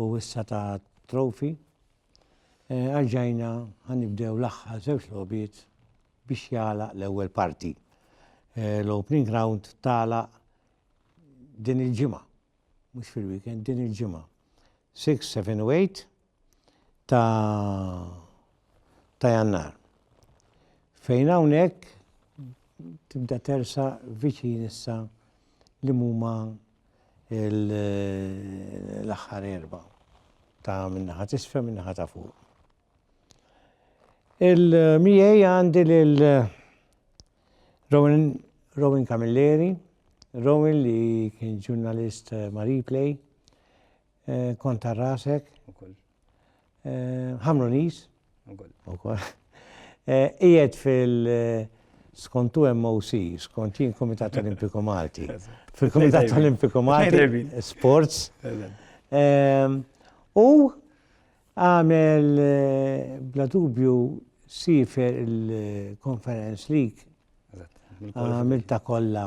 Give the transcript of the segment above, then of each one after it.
u issa ta' trofi, arġajna ħa nibdew l-aħħar żewġ logħbiet biex jagħlaq l-ewwel parti. L-opening round tagħlaq din il-ġimgħa, mhux fil-weekend, din il-ġimgħa. 6, 7 u 8 ta' ta' jannar. Fejn hawnhekk tibda tersa viċin issa li huma l-aħħar erba ta' minnaħa tisfel minnaħa ta' fuq. Il-miej għandi lil Rowan, Rowan Camilleri, Rowan li kien ġurnalist Marie Play, eh, konta rasek, Ħamronis, ukoll. Qiegħed fil skont MOC, skont jien Kumitat Olimpiku Malti. Fil-Kumitat Olimpiku Malti, Sports. U għamel bla dubju sifer il-Conference League. Għamil ta' kollha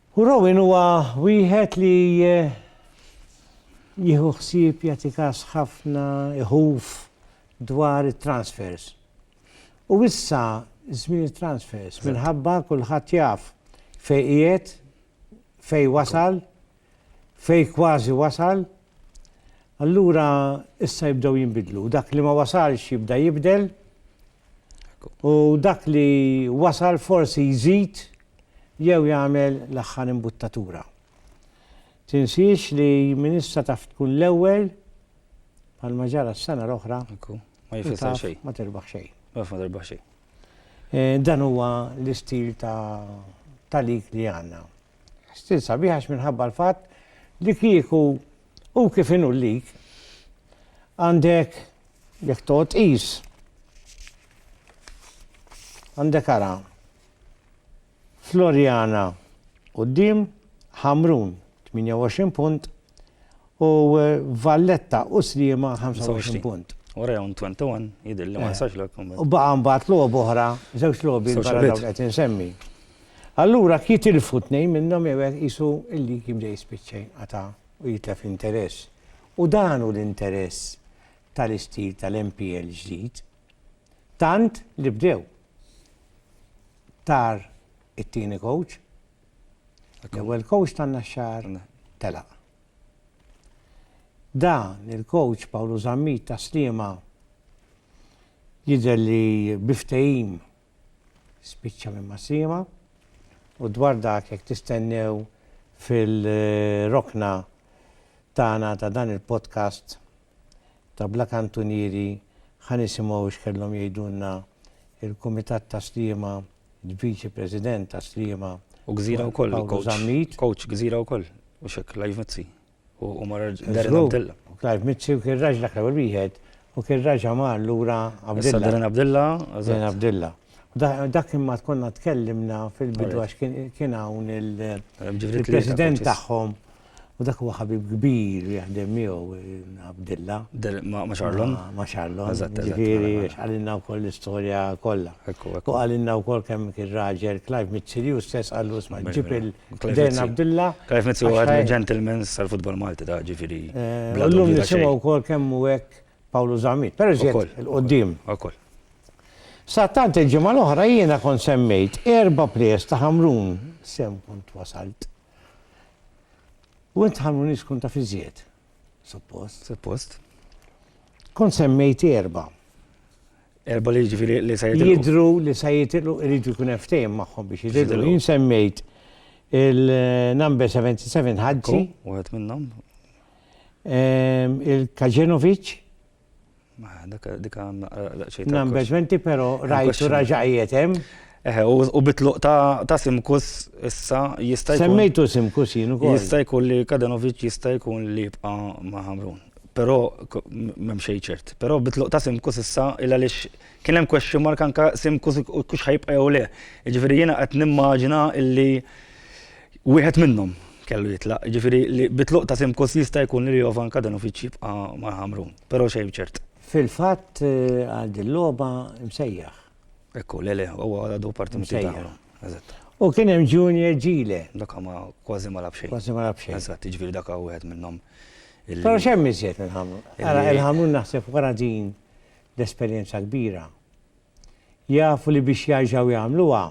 U Rowan huwa wieħed li jieħu ħsieb jagħti kas ħafna iħuf dwar it-transfers. U issa żmien it-transfers minħabba kulħadd jaf fejn qiegħed, fejn wasal, fejn kważi wasal, allura issa jibdew jinbidlu. Dak li ma wasalx jibda jibdel, U dak li wasal forsi jżid jew jagħmel l-aħħar imbuttatura. Tinsiex li min issa taf tkun l-ewwel, bħalma ġara s-sena l-oħra, ma tirbaħ xejn. Ma tirbaħ xejn. Dan huwa l-istil ta' lig li għandna. Stil sabiħ għax minħabba l-fatt li kieku hu kif inhu l-lig għandek jekk toqgħod tqis għandek ara Floriana quddiem Ħamrun 28 punt U Valletta u Sliema 25 punt. U Rayon 21 jidhirli ma jistax lok. U baqa' mbagħad logħob oħra, żewġ logħobi barra dawk qed insemmi. Allura jekk jitilfu tnejn minnhom jew hekk qisu l-lig jibda jispiċċa jinqata' u jitlef interess. U dan hu l-interess tal-istil tal-MPL ġdid. Tant li bdew. Tar it-tieni coach. L-ewwel coach tan-Naxxar telaq. Dan il-coach Pawlu Zammit ta' Sliema jidher li bi ftehim spiċċa minn ma' Sliema u dwar dak jekk tistennew fil-rokna tagħna ta' dan il-podcast Tabla Kantunieri ħa nisimgħu x'kellhom jgħidulna l-Kumitat ta' Sliema, l-Viċi President ta' Sliema, U Gżira wkoll, Paolo il-coach. Zammit. Coach Gżira wkoll, mhux hekk, Clive Mizzi. U u mar Darren Żgur, Abdilla. u Clive Mizzi u kien raġlek l-ewwel wieħed u kien raġa' mar lura Issa Abdilla. Darren Abdilla, Darren eżatt. Abdilla. U da- dak imma konna tkellimna fil-bidu Alright. għax kien kien hawn il- Ġifiri tlieta il-President coaches. tagħhom U dak huwa ħabib kbir jaħdem miegħu Abdilla. Ma' Charlon? Ma' Charlon. Eżatt, eżatt. Ġifieri, għalinna wkoll l-istorja kollha. Ekku, ekku. U għalinna wkoll kemm kien raġel Clive Mizzi u stess qallu sma' ġib il-Dejn Abdilla. Clive Mizzi huwa għad gentlemen sal-futbol Malti ta' ġifieri. Illum nisimgħu wkoll kemm hu hekk Pawlu Zammit. Però ġiet il-qudiem. Ukoll. Sa tant il-ġimgħa l-oħra jiena kont semmejt erba' players ta' Ħamrun. Sew kont wasalt. U int ħarmoni tkun taf iżjed. Suppost. Suppost. Kon semmejt erba. Erba li ġifiri li sa jitilqu. Jidru li sa jitilqu irridu jkun ftehim magħhom biex jitilqu. Jien semmejt il-number 77 ħadzi. Wieħed minnhom. Ehm, Il-Kaġenovic. Dak dik għandna daqsxejn. Number 20 però rajtu raġaqiet hemm. Eħe, u bitluq ta' Simkus issa jista' jkun. Semmejtu Simkus jien ukoll. Jista' jkun li Kadanovic jista' jkun li jibqa' ma' Ħamrun. Però m'hemm xejn ċert. Però bitluq ta' Simkus issa il għaliex kien hemm question mark anke Simkus kux ħajibqa' jew le. Jiġifieri jiena qed nimmaġina illi Wieħed minnhom kellu jitlaq, jiġifieri li bit-tluq ta' Simkus jista' jkun li Jovan Kadanovic jibqa' ma' Ħamrun, però xejn ċert. Fil-fatt għal dil-logħba msejjaħ. Ekku, le le, huwa għadu parti minn Team Ħamrun. Eżatt. U kien hemm Junior Gile. Dak ma kważi ma lagħab xejn. Kważi ma lagħab xejn. Eżatt, jiġifieri dak hu wieħed minnhom. Però x'hemm iżjed minn Ħamrun? Ara, il-Ħamrun naħseb wara din l-esperjenza kbira. Jafu li biex jarġgħu jagħmluha,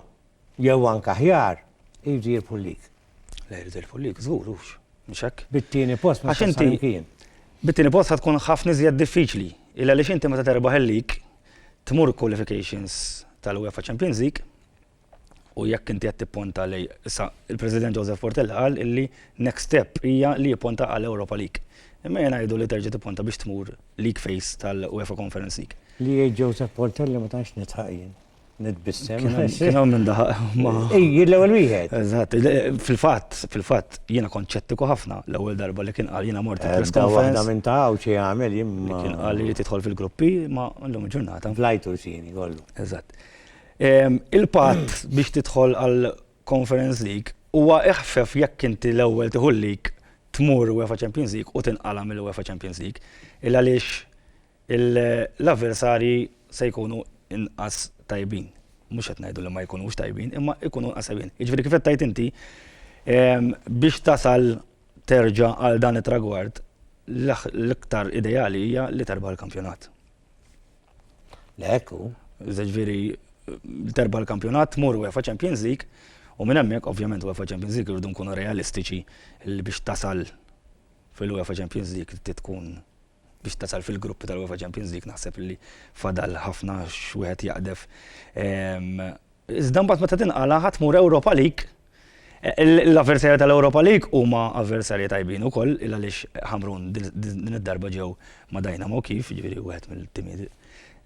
jew anke aħjar, iridu jirbħu l-lig. Le jridu jirbħu l-lig, żgur hux, mhux hekk? Bit-tieni post ma tħassar imkien. Bit-tieni post ħa tkun ħafna iżjed diffiċli, illa għaliex inti meta terbaħ il-lig, tmur qualifications tal-UEFA Champions League, u jekk inti qed tipponta lej issa il-President Joseph Portella qal illi next step hija li jipponta għal Europa League. Imma jien ngħidu li terġa' tipponta biex tmur league phase tal-UEFA Conference League. Li jgħid Joseph Portella ma tantx nidħaq jien. Nitbissem. Kien hawn minn daħaq ma. Ejji l-ewwel wieħed. Eżatt, fil-fatt, fil-fatt jiena konċettiku ħafna l-ewwel darba li kien qal jiena mort eh, press conference. Waħda minn ta' hawn xi jagħmel jien. Kien qal li tidħol fil-gruppi ma llum il-ġurnata. Blajtu xini kollu. Eżatt. Il-patt biex tidħol għall-Conference League huwa iħfef jekk inti l-ewwel tieħu l-league, tmur UEFA Champions League u tinqala' mill-UEFA Champions League. Il għaliex l-avversarji se jkunu inqas tajbin. Mhux qed ngħidu li ma jkunux tajbin, imma jkunu inqas tajbin. Jiġifieri kif qed tgħid inti, biex tasal terġa' għal dan it-tragward, l-iktar ideali hija li terbaħ il-kampjonat. Le hekk hu. Jiġifieri terba' l-kampjonat, tmur UEFA Champions League u minn hemmhekk ovvjament UEFA Champions League irridu nkunu realistiċi li biex tasal fil-UEFA Champions League trid tkun biex tasal fil-gruppi tal-UEFA Champions League naħseb li fadal ħafna x'wieħed jaqdef. Iżda mbagħad meta tinqalagħha tmur Europa League, l-avversarji tal-Europa League huma avversarji tajbin ukoll il għaliex Ħamrun din id-darba ġew ma' Dynamo Kyiv, jiġifieri wieħed mill-timijiet.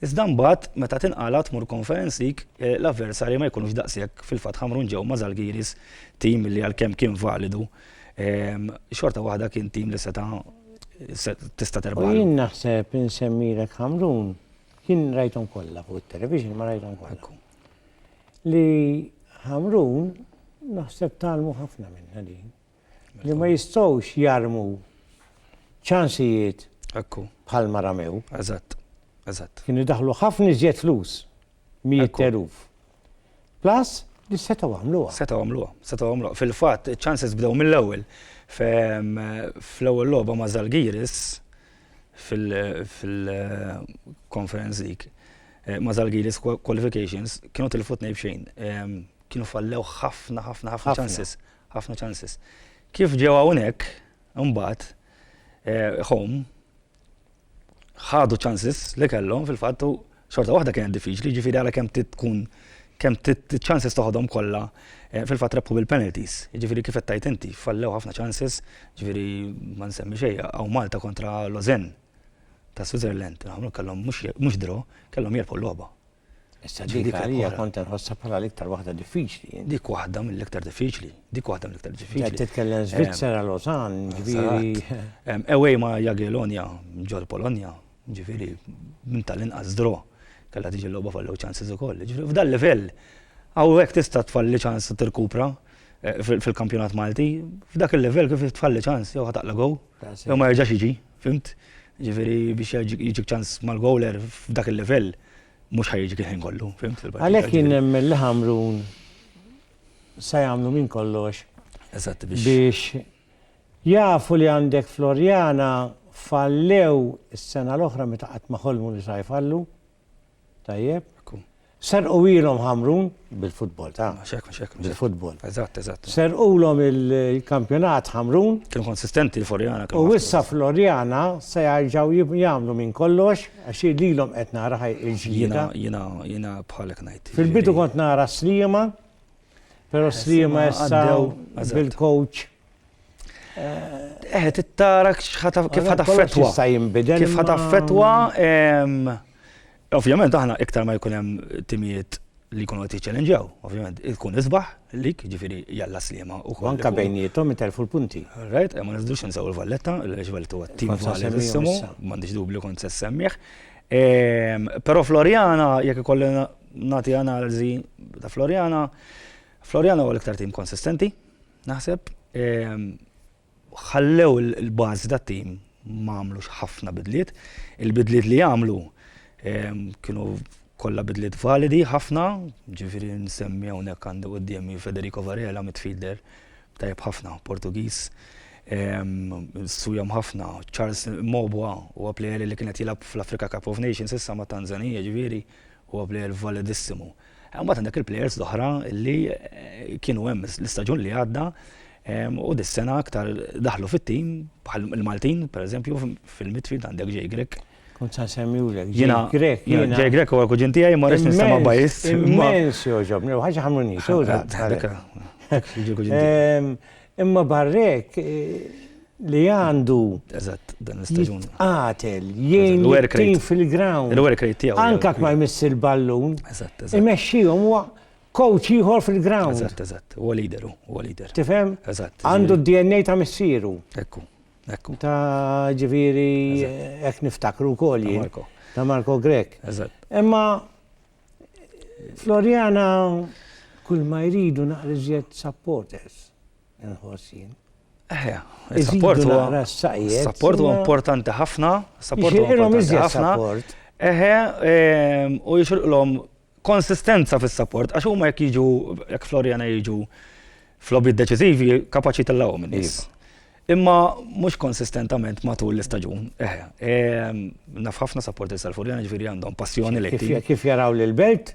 Iżda mbagħad meta tinqala' tmur Conference League l-avversarji ma jkunux daqshekk, fil-fatt Ħamrun ġew ma' Zalgiris, tim li għalkemm kien validu, xorta waħda kien tim li seta' tista' terbaħlu. U jien naħseb insemmilek Ħamrun Jien rajthom kollha fuq it-television, ma rajthom kollha. Li Ħamrun naħseb talmu ħafna minna din. Li ma jistgħux jarmu ċansijiet bħal ma ramew. Eżatt, eżatt. Kienu daħlu ħafna iżjed flus mijiet teruf. Plus li setgħu għamluha. Setgħu għamluha, setgħu għamluha. Fil-fatt, iċ-ċanses bdew mill-ewwel fl-ewwel logħba ma' Zalgiris fil-Conference League. Ma' Zalgiris qualifications kienu tilfu tnejn b'xejn. Kienu fallew ħafna, ħafna, ħafna ċanses. Ħafna ċanses. Kif ġew hawnhekk, imbagħad, home, ħadu ċansis li kellhom fil-fatt u xorta waħda kienet diffiċli, jiġifieri għala kemm tkun kemm ċansis toħodhom kollha eh, fil-fatt rebħu bil-penalties. Jiġifieri kif qed tajt inti, fallew ħafna ċansis, jiġifieri ma nsemmi xejn hawn Malta kontra Lozen ta' Switzerland, għamlu kellhom mhux draw, kellhom jerbħu l-logħba. Issa dik Dik għalija oħra. kont inħossha bħala l-iktar waħda diffiċli. int. Dik waħda mill-iktar diffiċli. Dik waħda mill-iktar Qed diffiċli. titkellem Svizzera, Lausanne, ġifieri. Eżatt. Em, Away ma' Jagiellonia ġol Polonja, ġifieri minn tal-inqas draw. Kellha tiġi l-logħba fallow chances ukoll. Ġifieri f'dal-livell hawnhekk tista' tfalli ċans tirkupra eh, fil- fil-kampjonat Malti. F'dak il-livell kif tfalli ċans jew ħa taqla' goal That's it. jew ma jerġax jiġi. Fhimt? Ġifieri biex jiġik ċans mal-gowler f'dak il-livell mhux ħaj jiġik il-ħin kollu, fhimt? Għalhekk jien nemmen li Ħamrun se jagħmlu minn kollox biex jafu li għandek Floriana fallew is-sena l-oħra meta qatt ma ħolmu li sa jfallu. Tajjeb? Ekku. Serqulhom Ħamrun bil-futbol ta'. Mhux hekk, mhux hekk. Bil-futbol. Eżatt, eżatt. Serqulhom il-kampjonat Ħamrun. Kienu konsistenti l-Floriana. U issa Floriana se jerġgħu jagħmlu minn kollox għax lilhom qed nara ħaj il-ġlieda. Jiena jiena jiena bħalek ngħid. Fil-bidu kont nara Sliema Pero s-slima għaddew bil-coach. Eħe, tittara kif ħataffetwa. Kif ħataffetwa. Ovvjament, aħna iktar ma jkun hemm timijiet li jkunu qed jiċċellenġaw, ovvjament, ikun isbaħ lik, ġifieri jalla slima u kol. Anka bejnietom iterfu l-punti. Right, ma nistgħux nsaw il-Valletta, l-Valletta huwa tim Valletta ismu, m'għandix dubju kont se semmih. Però Floriana jekk ikollna Nagħti analiżi ta' Floriana. Floriana huwa l-iktar tim konsistenti, naħseb. Ehm, ħallew il-bażi tat-tim ma għamlux ħafna bidliet. Il-bidliet li għamlu ehm, kienu kollha bidliet validi ħafna, ġifieri nsemmi hawnhekk għandi qudiemi Federico Varela midfielder tajjeb ħafna, Portugiż. Ehm, sujom ħafna, Charles Mobwa u għaplejeri li kienet jilab fl-Afrika Cup of Nations issa ma' Tanzania ġviri. Huwa plejer validissimo. Imbagħad għandek il-plejers l-oħra li kienu hemm l-istaġun li għadda u dis-sena aktar daħlu fit-tim bħal il-Maltin, pereżempju, fil-midfield għandek Jay Grech. Kont sa semmjulek. Jiena Grech. Jay Grech huwa l-kuġin tiegħi ma rridx nistema' bajis. Immens joġobni, ħaġa ħamuni. Imma barrek, li għandu jitqatel, jgħin l-tim fil-ground. Il-work rate tiegħu. Anka ma jmiss il-ballun. Imexxihom huwa coach ieħor fil-ground. Eżatt, eżatt. Huwa leader, huwa leader. Tifhem? Eżatt. Għandu d-DNA ta' missieru. Ekku, ekku. Ta' ġifieri hekk niftakru wkoll jien. Ta' Marco Grek. Eżatt. Imma Floriana kull ma jridu naqriżjed supporters. Inħoss jien. Eħe, il-sapport huwa sapport huwa importanti ħafna, sapport huwa importanti ħafna. Eħe, ehm, u jixilqlhom konsistenza fis-sapport, għax huma jekk jiġu, jekk Floriana jiġu fl-lobby deċiżivi, kapaċi tellawhom in-nies. Iva. Imma mhux konsistentament matul l-istaġun. Eħe, ehm, naf ħafna sapport is-Salfurjana ġifieri għandhom passjoni lejn. Kif jaraw l-belt?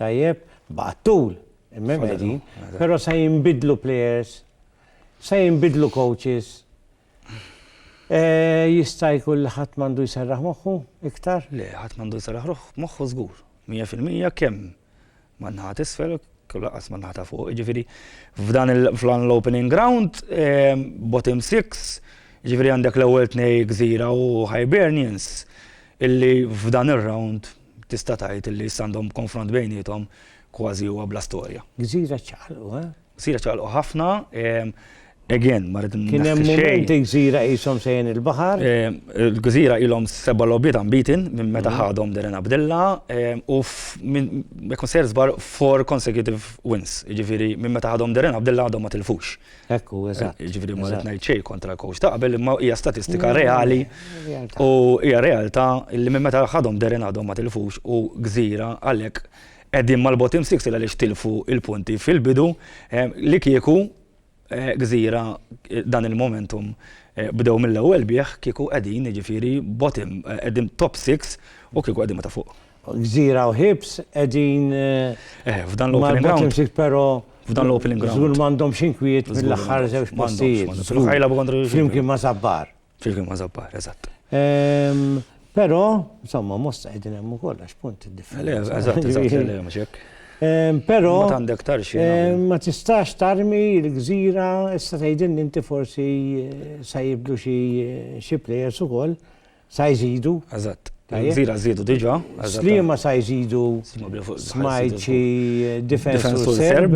Tajjeb, baqgħet tul, imma hemm qegħdin. Però se jinbidlu players, se jinbidlu coaches. Jista' jkun li ħadd m'għandu jserraħ moħħu iktar? Le, ħadd m'għandu jserraħ moħħu żgur. Mija fil-mija kemm man-naħa t'isfel u lanqas man-naħa ta' fuq. Jiġifieri f'dan l-opening round, bottom six, jiġifieri għandek l-ewwel tnejn Gżira u Hibernians, illi f'dan ir-round, tista' tgħid li issa għandhom konfront bejniethom kważi huwa bla storja. Gżira ċaqalqu, eh? Gżira ċaqalqu ħafna, again, ma rrid Kien hemm mument gżira qishom sejjen il-baħar. Il-gżira ilhom seba' logħbiet unbeaten minn meta ħadhom Darren Abdilla u jekk ma sejjer żball four consecutive wins, jiġifieri minn meta ħadhom Darren Abdilla għadhom ma tilfux. Hekk hu, eżatt. Jiġifieri ma rrid ngħid xejn kontra l-kowċ ta' qabel imma hija statistika reali u hija realtà li minn meta ħadhom Darren għadhom ma tilfux u Gżira għalhekk qegħdin mal-bottom six il għaliex tilfu l-punti fil-bidu li kieku Gżira dan il-momentum bdew mill-ewwel bih kieku qegħdin jiġifieri bottom qegħdin top six u kieku qegħdin ma ta' fuq. Gżira u Hibs qegħdin marbutin ftit però f'dan l-opening ground. Żgur m'għandhomx inkwiet mill-aħħar żewġ postijiet. Flimkien ma' Żabbar. Flimkien ma' Żabbar, eżatt. Però, insomma, mosta qegħdin hemm ukoll għax punt differenti. Eżatt, eżatt, Però ma tistax tarmi l-gżira issa tgħidilni inti forsi se jibdu xi players ukoll. Sa jżidu? Eżatt. Gżira żiedu diġà. Sliema sa jżidu smajċi difensur serb.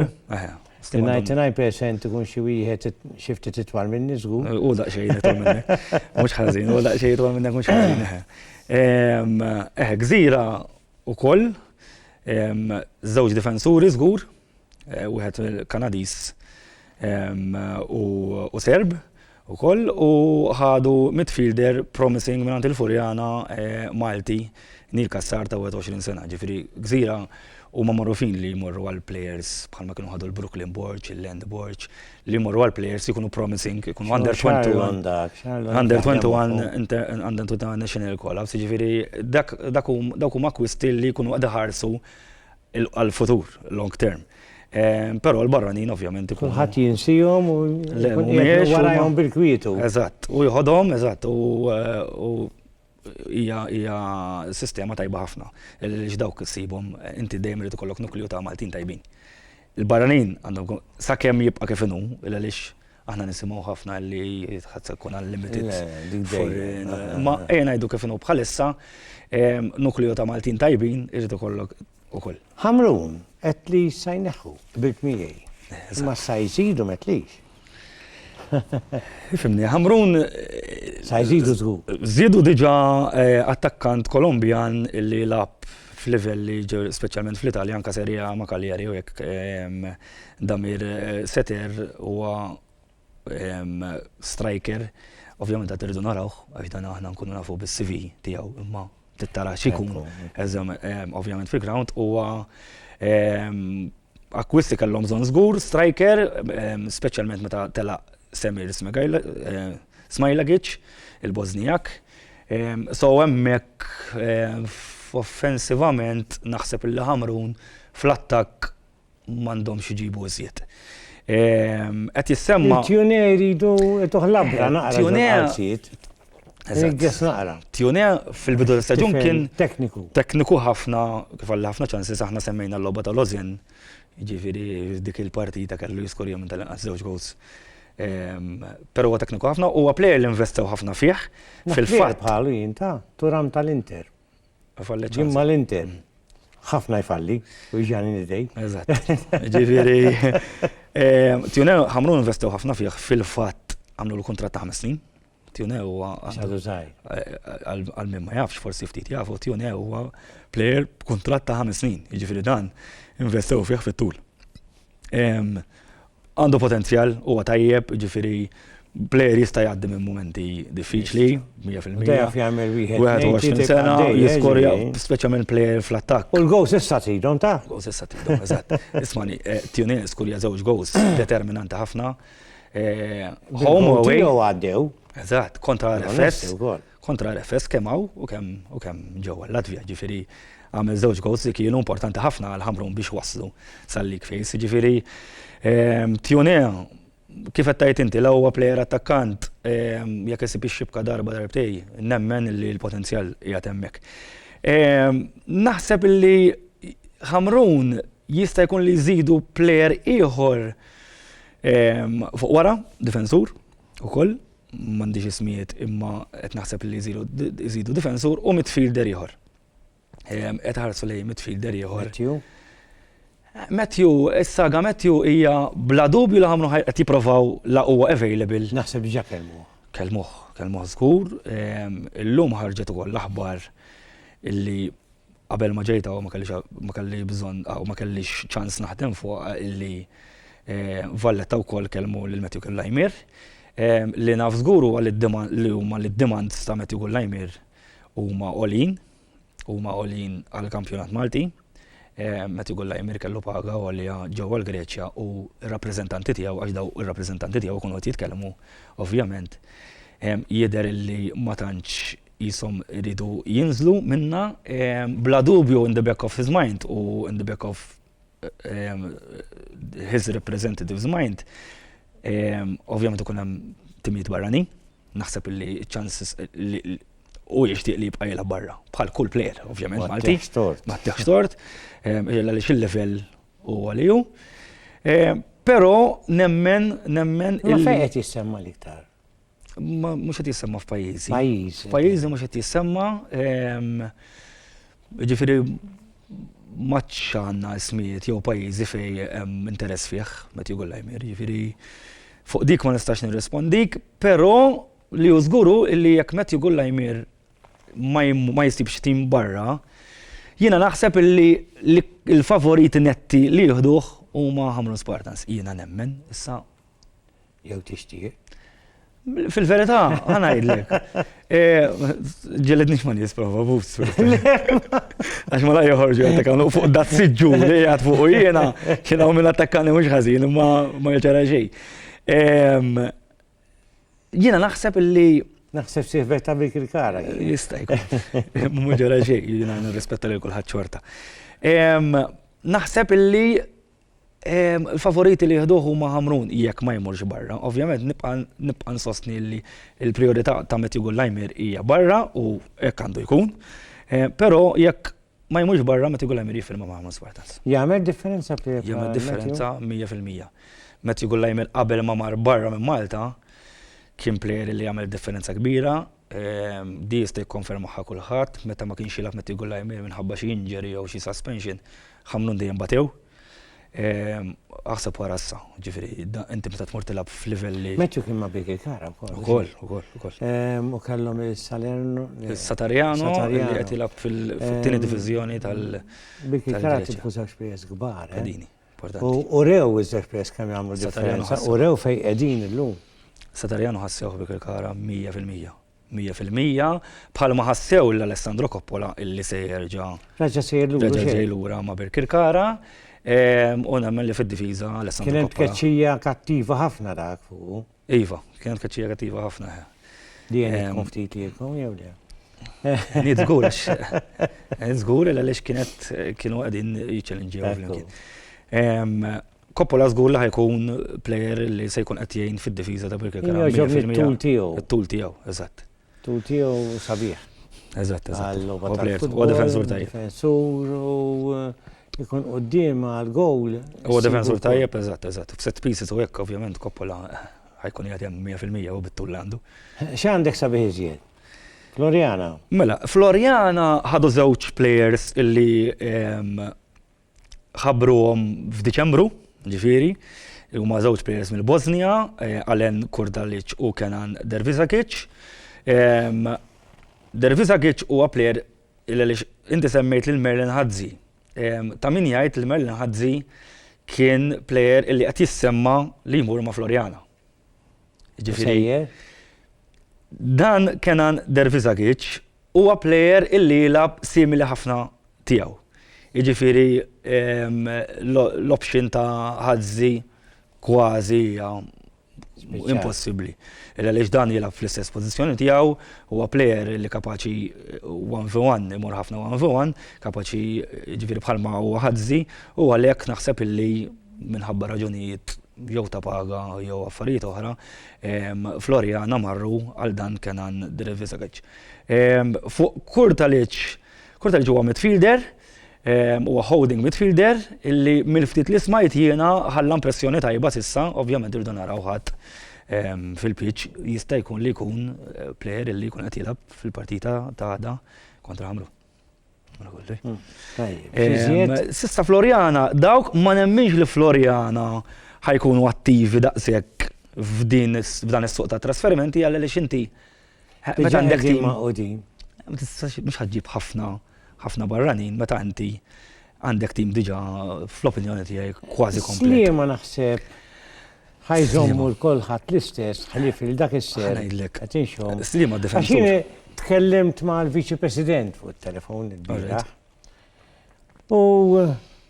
Tinaj percent ikun xi wieħed xi ftit itwal minni żgur. U daqsxejn itwal minnek. Mhux ħażin, u daqsxejn itwal minnek mhux ħażin. Eħe, gżira wkoll żewġ difensuri żgur. wieħed Kanadiż u Serb ukoll u ħadu midfielder promising mingħand il-Furjana Malti Neil Cassar ta' 21 sena. Ġifieri gżira huma magħrufin li jmorru għal players bħalma kienu ħadu l-Brooklyn Borg, il-Land Borg, li jmorru għal players jkunu promising, jkunu under 21. Under 21, under 21 national call-ups, ġifieri dak huma kwisti li jkunu qed iħarsu għall-futur, long term. Però l-barranin ovvjament ikun. Kulħadd jinsihom u warajhom bil-kwietu. Eżatt, u jħodhom, eżatt, u hija sistema tajba ħafna. Għaliex dawk issibhom inti dejjem irid ikollok nukliju ta' Maltin tajbin. Il-barranin għandhom sakemm jibqa' kif inhu, għaliex Aħna nisimgħu ħafna li ħadd se jkun unlimited foreign. Ma ejja ngħidu kif inhu bħalissa, nukleo ta' Maltin tajbin irid ikollok ukoll. Ħamrun qed li sa jneħħu bil miegħi. Ma sa jżidu ma tlix. Fimni, Ħamrun. Sa jżidu żgur. Żiedu diġà eh, attakkant Kolombjan li lab f'livelli speċjalment fl-Italja anka serija ma' Kaljeri u jekk Damir Seter huwa striker, ovvjament qed irridu narawh, għax dan aħna nkunu nafu bis-CV tiegħu, imma tittara x'ikun ovvjament fil-ground huwa akkwisti kellhom bżonn żgur striker, speċjalment meta telaq Semir Smajlagic, il-Bożnijak. So hemmhekk offensivament naħseb li Ħamrun fl-attakk m'għandhomx iġibu iżjed. Ehm, qed jissemma. Tjune jridu toħlabra eh, naqra. Tjune. Eżatt. naqra. Tjune fil-bidu ta' staġun kien. Tekniku. Tekniku ħafna, kif għalli ħafna ċansi aħna semmejna l-loba ta' Lozjen. Ġifiri, dik il-partita kellu jiskur jom tal-inqas żewġ goals. Ehm, Pero huwa tekniku ħafna, huwa plejer li investew ħafna fih. Fil-fatt. Bħalu jinta, turam tal-Inter. Jien mal-Inter. Ħafna jfalli, u ġani nidej. Eżatt. Ġifieri. Tjunew ħamru investew ħafna fih fil-fatt għamlu l-kuntratt ta' ħames snin. Tjunew huwa. Għadu żgħir. Għal min ma jafx forsi ftit jafu, Tjunew huwa plejer b'kuntratt ta' ħames snin. Jiġifieri dan investew fih fit-tul. Għandu potenzjal, huwa tajjeb, ġifieri plejer jista' jgħaddi minn mumenti diffiċli, 100%. Dejjaf jagħmel wieħed. 21 sena, jiskorja, speċjalment plejer fl-attakk. U l-gows issa tidhom ta'? Gows issa tidhom, eżatt. Ismani, Tunis skorja żewġ gows determinanti ħafna. Home away. Jew għaddew. Eżatt, kontra l-FS. kontra RFS kemm hawn u kemm u kemm ġewwa l-Latvja. Jiġifieri għamel żewġ goals li kienu importanti ħafna għal Ħamrun biex waslu sal-league phase. Jiġifieri Tiune kif qed tgħid inti la huwa plejer attakkant jekk isib ix-xibka darba darbtej nemmen li l-potenzjal qiegħed hemmhekk. Naħseb li Ħamrun jista' jkun li jżidu plejer ieħor fuq wara, difensur ukoll. m'għandix ismijiet imma qed naħseb li jżidu difensur u midfielder ieħor. Ehm, qed ħarsu lejn midfielder ieħor. Matthew, is-saga Matthew hija bla dubju li ħamlu qed jipprovaw la huwa available. Naħseb diġà kelmu. Kelmuh, kelmuh żgur. Ehm, illum ħarġet ukoll l-aħbar illi Qabel ma ġejt hawn ma kellix bżonn hawn ma kellix ċans naħdem fuqha illi Valletta wkoll kellmu lil Matthew Kullajmier. Li naf żgur huwa li huma li d-demands ta' Matthew Kullajmier huma għoljin, huma għoljin għall-kampjonat Malti. Matthew Kullajmier kellu paga għolja ġewwa l-Greċja u r-rappreżentanti tiegħu, għax dawn ir-rappreżentanti tiegħu kienu qed jitkellmu, ovvjament jidher illi ma tantx qishom iridu jinżlu minnha bla dubju in the back of his mind u in the back of his representative's mind ovvjament ikun hemm timijiet barranin, naħseb li ċ-ċanses hu jixtieq li jibqa' jilgħab barra bħal kull plejer ovvjament Malti. Ma ttiħx tort. Għaliex il-livell huwa li hu. Però nemmen, nemmen. Imma fejn qed jissemma l-iktar? Mhux qed jissemma f'pajjiżi. Pajjiżi. F'pajjiżi mhux qed jissemma. Ehm, ġifieri maċċ għandna ismijiet jew pajjiżi fej hemm interess fih meta jgħu l-ajmir. Ġifieri fuq dik ma nistax nirrispondik, però li hu żguru illi jekk meta jgħu l-ajmir ma jistibx tim barra, jiena naħseb illi l-favoriti netti li jieħduh huma Hamrun Spartans. Jiena nemmen, issa Jew tixtieq? Fil-verità, għana jidlek. Ġelidnix ma nis prova bus. Għax ma la joħorġu għattakan fuq da t-sidġu li għad fuq u jena, xena u minn attakkani mux ħazin, ma ma jċara xej. Jena naħseb li Naħseb siħbet ta' bik il-kara. Jista' jkun. Mhux ġara xejn, jiena nirrispetta lil kulħadd xorta. Naħseb illi Il-favoriti li jieħduh huma Ħamrun jekk ma jmurx barra. Ovvjament nibqa' nsostni li l-prijorità ta' Matthew Gullajmier hija barra u hekk għandu jkun. Però jekk ma jmurx barra Matthew Gullajmier jiffirma ma' Ħamrun Spartans. Jagħmel differenza fih? Jagħmel differenza 100%. Matthew Gullajmier qabel ma mar barra minn Malta kien plejer li għamel differenza kbira Din jista' jikkonfermahha kulħadd, meta ma kienx jilgħab Matthew Gulaimir minħabba xi injury jew xi suspension, Ħamrun dejjem batew. Aħseb wara issa, ġifieri inti meta tmur tilgħab f'livell li. Matthew kien ma' Birkirkara wkoll. Ukoll, ukoll, ukoll. U kellhom is-Salerno. Is-Satarjano li qed jilgħab fit-tieni diviżjoni tal-. Birkirkara tilfu żewġ players kbar. Pedini. U rew iżżef press kemm jagħmlu differenza, u rew fejn qegħdin illum. Satarjano ħassewh bi Kirkara 100%. 100% bħalma ħassew l-Alessandro Coppola illi se jerġa' Raġa sejjer lura. Raġa ġej lura ma' Birkirkara. U nemmen li fid-difiża Alessandro Coppola. Kien hemm tkeċċija kattiva ħafna dak fuq. Iva, kienet kaċċija kattiva ħafna. Di għenet eh, tkun ftit lilkom jew le? Nid zgur, għax zgur għaliex kienet kienu għadin jiċċellinġew flimkien. Ehm, Koppola zgur li ħajkun player li se jkun qed jgħin fid-difiża ta' Birkirkara. Ġobni t-tul tiegħu. T-tul tiegħu, eżatt. Tul tiegħu sabiħ. Eżatt, eżatt. Huwa difensur tajjeb. Difensur u eh, ikun qoddim għal gowl. Huwa difensur tajjeb, eżatt, eżatt. F'set pieces u hekk ovvjament koppola eh, ħajkun jgħad hemm 100% u bit-tul għandu. X'għandek sabiħ iżjed? Floriana. Mela, Floriana ħadu żewġ players illi ehm, ħabbruhom f'Diċembru, ġifieri, huma żewġ players mill-Bosnja, Alen Kurdalic u Kenan Dervisakic. Dervisakic huwa player li għaliex inti semmejt lil Merlin Hadzi. Ta' min jgħid li Merlin Hadzi kien player li qed jissemma' li jmur ma' Floriana. Ġifieri. Dan Kenan Dervisagic huwa plejer illi jilgħab simili ħafna tiegħu. Jiġifieri l-option ta' Hazzi kważi hija impossibbli. Illa għaliex dan jilgħab fl-istess pożizzjoni tiegħu, huwa plejer li kapaċi one v one, imur ħafna one v one, kapaċi jiġifieri bħalma huwa Hazzi, u għalhekk naħseb illi minħabba raġunijiet jew ta' paga jew affarijiet oħra, Floriana marru għal dan Kenan Drivisagic. Fuq Kurtalic, Kurtalic huwa midfielder, huwa holding midfielder illi mill-ftit li smajt jiena ħalla impressjoni tajba s'issa, ovvjament irridu naraw ħadd fil-pitch jista' jkun li jkun plejer illi jkun qed jilgħab fil-partita ta' għada kontra Ħamrun. Hmm, Sista Floriana, dawk ma nemminx li Floriana ħajkunu attivi daqshekk f'din f'dan is-suq ta' trasferimenti għal li xinti. Meta għandek tim ma' qudin. Mhux ħaġġib ħafna ħafna barranin meta inti għandek tim diġà fl-opinjoni tiegħi kważi komplet. ma naħseb Ħa jżommu l-kulħadd l-istess ħlief li dak is-ser. Ngħidlek. Qed inxhom. Sliema difensur. Tkellimt mal-Viċi President fuq it-telefon il-bira. U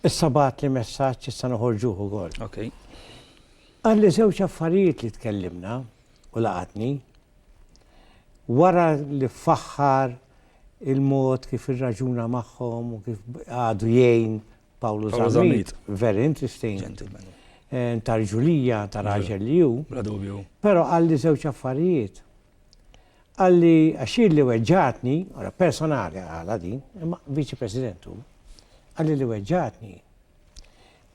issa bat li messaġġ issa noħorġuh ukoll. Okay. Għalli żewġ affarijiet li tkellimna u laqatni wara li faħħar il-mod kif irraġuna magħhom u kif għadu jgħin Pawlu Zammit, very interesting. Gentleman. Ntarġulija ta' raġel li ju. Bla dubju. Pero għalli zewċ affarijiet. Għalli għaxir li weġġatni, għara personali għala din, imma viċi presidentu, għalli li weġġatni.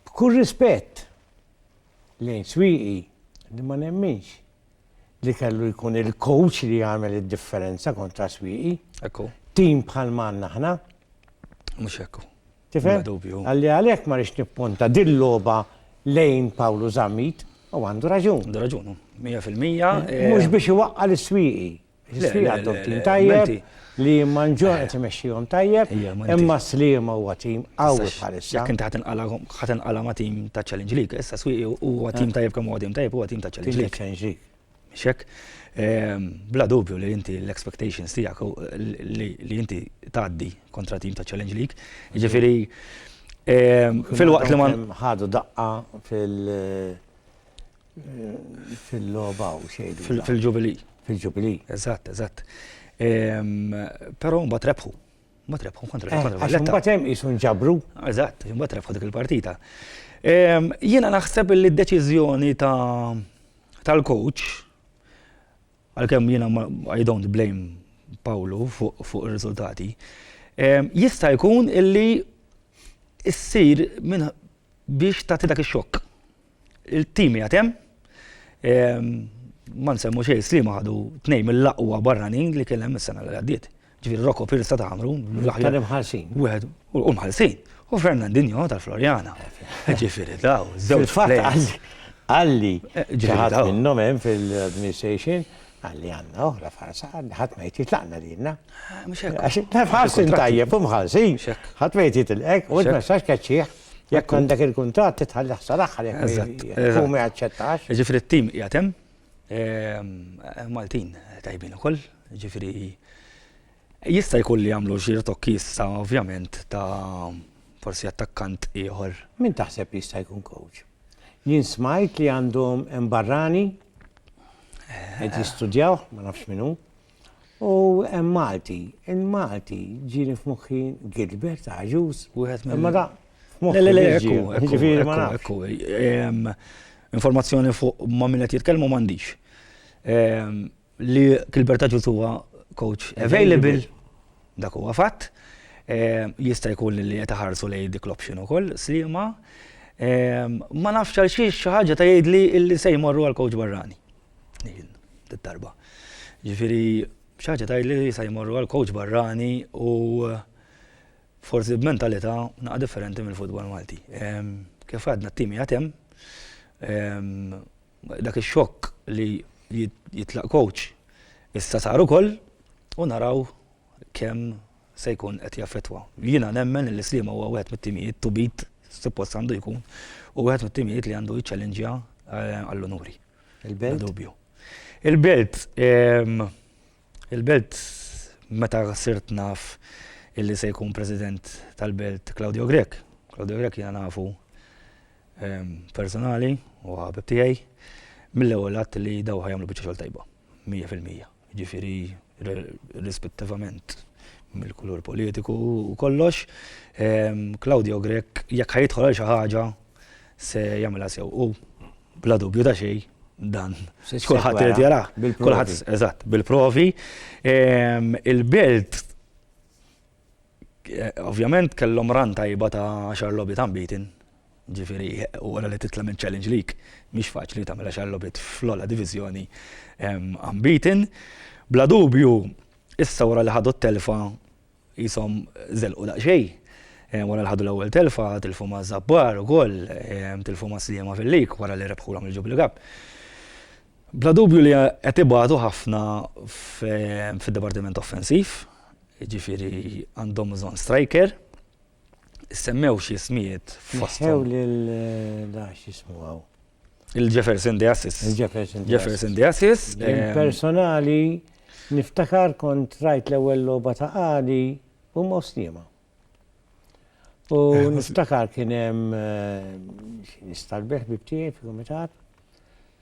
B'kull rispett lejn swiqi li ma nemminx li kellu jkun il-coach li jagħmel id-differenza kontra Swieqi. Ekku. Tim bħal manna aħna. Mhux ekku. Tifhem? Għalli għalhekk ma rix nipponta dil-logħba lejn Pawlu Zammit u għandu raġun. Għandu raġun, 100%. Mhux eh, biex iwaqqa l-Swieqi. Ħsija għandhom tim tajjeb li manġor qed imexxihom tajjeb, imma Sliema huwa tim qawwi bħalissa. Jekk inti ħadd inqala ma' tim ta' Challenge League, issa Swieqi huwa tim tajjeb kemm huwa tim tajjeb huwa tim ta' Challenge League. Mhux hekk? Bla dubju li inti l-expectations tiegħek li inti tgħaddi kontra tim ta' Challenge League, jiġifieri filwaqt li ma. Ħadu daqqa fil. Fil-logħba u xejn. Fil-Ġubilì. Fil-Ġubilì. Eżatt, eżatt. Però mbagħad rebħu. Mbagħad rebħu kontra eh, kontra Valletta. Mbagħad hemm qisu nġabru. Eżatt, mbagħad rebħu dik il-partita. Jiena naħseb li d-deċiżjoni tal-coach għalkemm jiena I don't blame Pawlu fuq ir-riżultati. Jista' jkun illi issir minn biex tagħti dak ix-xokk. Il-tim jgħat hemm. Ehm, ma nsemmu xejn slima għadu tnejn mill-aqwa barranin li kellem is-sena li għaddiet. Ġifieri Rocco Pirsa ta' Amru, l-aħjar imħallsin. Wieħed u mħallsin. U Fernandinho tal-Florjana. Ġifieri daw, żewġ fatt għalli eh, ġiħat minnhom hemm fil-administration għalli għanna oħra farsa għanna ħat ma jtit laqna dinna. Għax tajjeb u mħalsin, ħat ma jtit l-ek, u t-messax kaċċieħ. Jekk għandek il-kuntratt titħalli ħsar aħħar jekk hu ma jaċċettax. Ġifieri t-tim qiegħed hemm. Ehm, Maltin tajbin ukoll, ġifieri jista' jkun li jagħmlu xi rtokki issa ovvjament ta' forsi attakkant ieħor. Min taħseb li jista' jkun coach? Jien smajt li għandhom barrani eh. qed jistudjaw, ma nafx minnu. U hemm Malti, il-Malti ġieli f'moħħi Gilbert Agius. Wieħed minn. Imma da f'moħħi. Le, le, le, ġifieri ma nafx. Informazzjoni fuq ma' min qed jitkellmu m'għandix. Li Gilbert Agius huwa coach available, dak huwa fatt. Jista' jkun li qed iħarsu lejn dik l-option ukoll, Sliema. Ma nafx għal xiex xi ħaġa ta' jgħidli li se jmorru għal coach barrani. Darba. Ġifiri, xaġa tajli li sa jmorru għal coach barrani u forsi b'mentalità naqa' differenti mill-futbol Malti. Kif għadna t-timi għatem, dak ix-xokk li jitlaq coach issa sar ukoll u naraw kemm se jkun qed jaffettwa. Jiena nemmen li Sliema huwa wieħed mit-timijiet to beat, suppost għandu jkun, u wieħed mit-timijiet li għandu jiċċallinġja għall-unuri. Il-belt? Dubju. Il-belt, il-belt meta sirt naf illi se jkun president tal-belt Claudio Grek. Claudio Grek jena nafu personali u għabib tijaj mill-ewel għat li dawħa jamlu bieċa xol tajba, 100%. jiġifieri irrispettivament mill-kulur politiku u kollox, Claudio Grech jekk ħajidħol għal xi ħaġa se jagħmilha sew u bla dubju ta' xejn dan. Kulħadd irid jarah. Kulħadd, eżatt, bil-provi. Il-belt Ovvjament kellhom run tajba ta' għaxar logħbiet unbeaten, ġifieri u wara li titla' minn Challenge League mhix faċli tagħmel għaxar logħbiet fl-ogħla diviżjoni unbeaten. Bla dubju issa wara li ħadu t-telfa qishom żelqu daqsxejn wara li ħadu l-ewwel telfa, tilfu ma' Żabbar ukoll, tilfu ma' Sliema fil-league wara li rebħulhom il-Jubilee Cup. Bla dubju li qed ibatu ħafna fid-dipartiment offensiv. Jiġifieri għandhom bżonn striker. Issemmew xi ismijiet fost. Ħew lil dax jismu għaw. Il-Jefferson De Assis. Il-Jefferson De Jefferson De Assis. Il-personali niftakar kont rajt l-ewwel logħba ta' għadi u mostjema. U eh, niftakar kien hemm eh, nistalbeħ bib tiegħi fil-kumitat.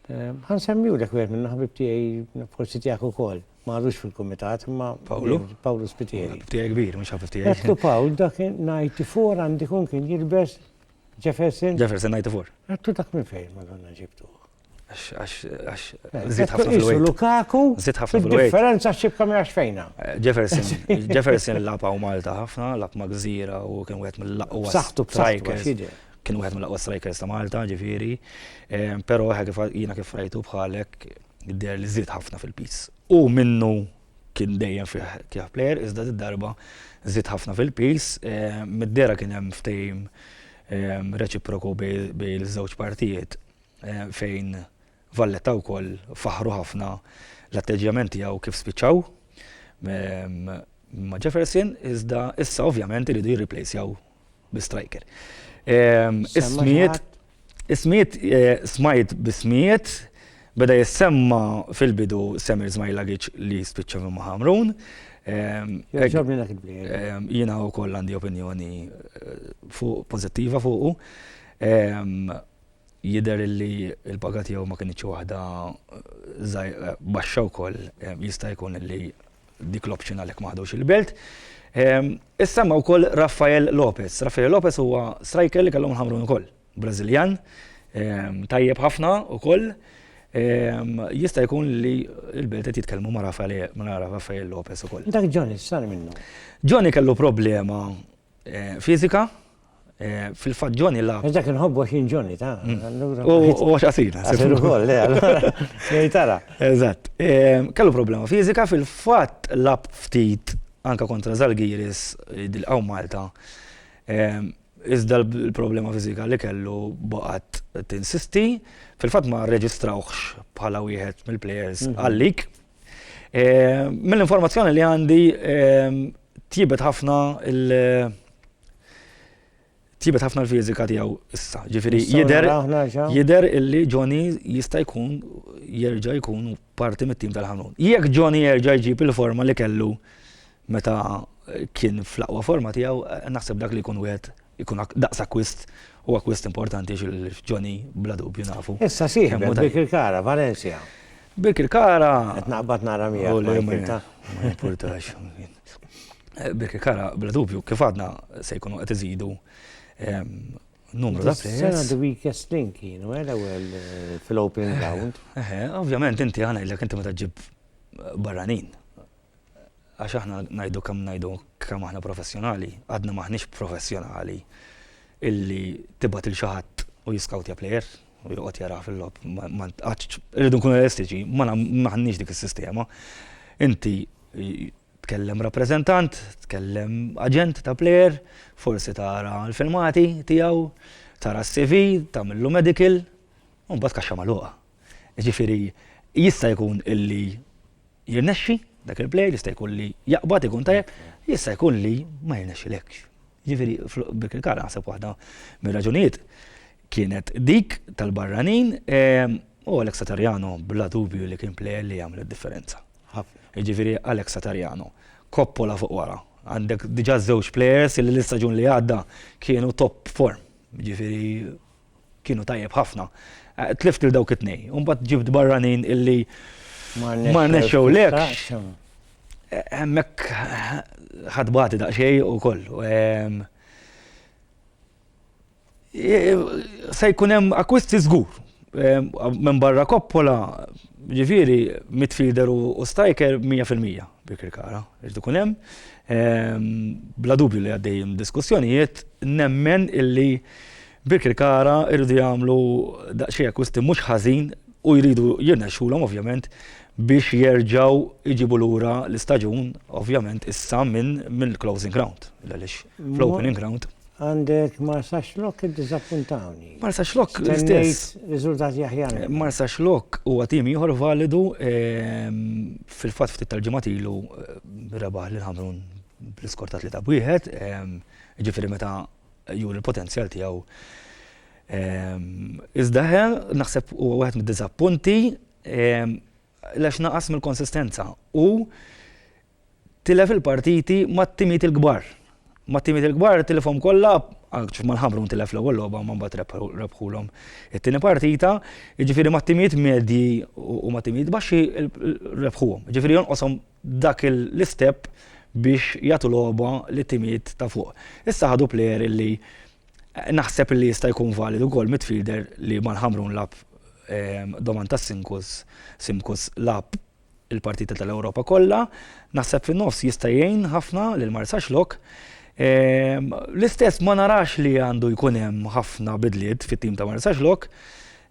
Eh, ħan semmiu dak wieħed minn ħabib tiegħi forsi tiegħek ukoll. Ma għadux fil-kumitat imma Pawlu Pawlu Spitieri. Tiegħi kbir mhux ħabib tiegħi. Għettu Pawl dak 94 għandi kun kien jilbes Jefferson. Jefferson 94. Għettu dak minn fejn ma donna ġibtu. Zid ħafna fil-wejt. Lukaku, zid ħafna fil-wejt. Differenza xibka minn fejna. Eh, Jefferson, Jefferson lapa u Malta ħafna, lap ma' gżira u kien wieħed mill-laqwa. Saħtu strikers. Kien wieħed mill-laqwa strikers ta' Malta, ġifieri. Eh, però jiena kif rajtu bħalek der li zid ħafna fil-pis. U minnu kien dejjem fih kif player, iżda d-darba zid ħafna fil-pis, eh, mid-dera kien hemm ftejm reċiproku bej l-żewġ partijiet fejn Valletta wkoll faħħru ħafna l-atteġġjament tiegħu kif spiċċaw ma' Jefferson, iżda issa ovvjament iridu jirriplejsjaw bi striker. Ehm, ismijiet, ismijiet, eh, smajt bismijiet, beda jissemma fil-bidu Semir Zmajlagic li spiċċa minn Mahamrun. Ehm, ehm, jina u koll għandi opinjoni eh, fuq pozittiva fuqu. Jidher illi l-paga tiegħu ma kinitx waħda baxxa wkoll jista' jkun illi dik l-option għalhekk ma ħadux il-Belt. Issemma wkoll Rafael Lopez. Rafael Lopez huwa striker li kellhom il-Ħamrun ukoll. Brażiljan tajjeb ħafna wkoll. Jista' jkun li l-Belt qed jitkellmu ma' Rafael Lopez ukoll. Dak Johnny x'sar minnu? Johnny kellu problema fiżika Fil-fatt Johnny la. Għax dak inħobbu għax jien Johnny, ta. U għax qasir. Qasir ukoll, le, allura. Jgħid tara. Eżatt. Kellu problema fiżika fil-fatt lab ftit anke kontra Zalgiris dil-qaw Malta. Iżda l-problema fiżika li kellu baqgħet tinsisti. Fil-fatt ma rreġistrawhx bħala wieħed mill-plejers għal-lig. Mill-informazzjoni li għandi tjibet ħafna il- tjibet ħafna l-fiżika tiegħu issa. Ġifieri jidher jidher illi Johnny jista' jkun jerġa' jkun parti mit-tim tal-ħanun. Jekk Johnny jerġa' jġib il-forma li kellu Meta kien fl-aqwa forma tiegħu, naħseb dak li jkun wieħed ikun daqs akkwist u akkwist importanti għax il-Johnny bla dubju nafu. Issa sieħbek Birkirkara, Valencia. Birkirkara. Qed naqbad nara miegħek ma jimpurtax. Ma jimpurtax. Birkirkara bla dubju kif għadna se jkunu qed iżidu numru ta' players. Sena the weakest link kienu, għela eh, għel eh, fil-opening round. Eh, ovvjament, inti għana il-lek inti meta ġib barranin. Għax aħna ngħidu kemm ngħidu kemm aħna professjonali, għadna m'aħniex professjonali illi tibgħat lil xi ħadd u jiskawtja plejer u joqgħod jara fil-logħob. Irridu nkunu realistiċi, m'aħniex dik is-sistema. Inti tkellem rappreżentant, tkellem aġent ta' plejer, forsi tara l-filmati tiegħu, tara s-CV, tagħmillu medical, u mbagħad kaxxa magħluqa. Jiġifieri jista' jkun illi jirnexxi dak il-plejer, jista' jkun li jaqbad ikun tajjeb, jista' jkun li ma jirnexxilekx. Jiġifieri f'dik il-każ naħseb waħda mir-raġunijiet kienet dik tal-barranin u Alex Satariano bla dubju li kien plejer li għamel id-differenza. Jiġifieri Alex Satariano, Coppola fuq wara, għandek diġà żewġ plejers li l-istaġun li għadda kienu top form. Jiġifieri kienu tajjeb ħafna. Eh, tlift il dawk it-tnej, un bat ġibt barranin illi marna xew lek. Hemmhekk ħadbati daqsxejn u kollu. Ehm, eh, se jkun hemm akkwisti żgur. Ehm, minn barra koppola, ġifieri midfielder u striker 100% bikri kara, iġdu kun hemm. Ehm, bla dubju li għaddejjem diskussjonijiet, nemmen illi Birkirkara jridu jagħmlu daqsxejn akkwisti mhux ħażin u jridu jirnexxulhom ovvjament biex jerġgħu jġibu lura l-istaġun ovvjament issa minn mill-closing ground għaliex fl-opening ground. Għandek Marsa Xlok iddiżappuntawni. Marsa Xlok l-istess. Riżultati aħjar. Marsa Xlok huwa tim ieħor validu ehm, fil-fatt ftit tal-ġimgħat ilu eh, rebaħ lil Ħamrun bl-iskortat li ta' wieħed, ehm, ġifieri meta juri l-potenzjal tiegħu. Iżda naħseb huwa wieħed mid-diżappunti għax naqas mill-konsistenza u tilef il-partiti mat-timijiet il-kbar. Mat-timijiet il-kbar tilifhom kollha, anke mal-Ħamrun tilef l-ewwel logħba imma mbagħad rebħulhom it-tieni partita, jiġifieri mat-timijiet medji u mat-timijiet baxxi rebħuhom. Jiġifieri jonqoshom dak l-istep biex jagħtu logħba lit-timijiet ta' fuq. Issa ħadu plejer li naħseb li jista' jkun valid ukoll midfielder li mal-Ħamrun lagħab ehm, Domantas Simkus, Simkus lagħab il-partita tal-Ewropa kollha, naħseb fin-nofs jista' jgħin ħafna lil Marsax Lok. Ehm, l-istess ma narax li għandu jkun hemm ħafna bidliet fit-tim ta' Marsax Lok,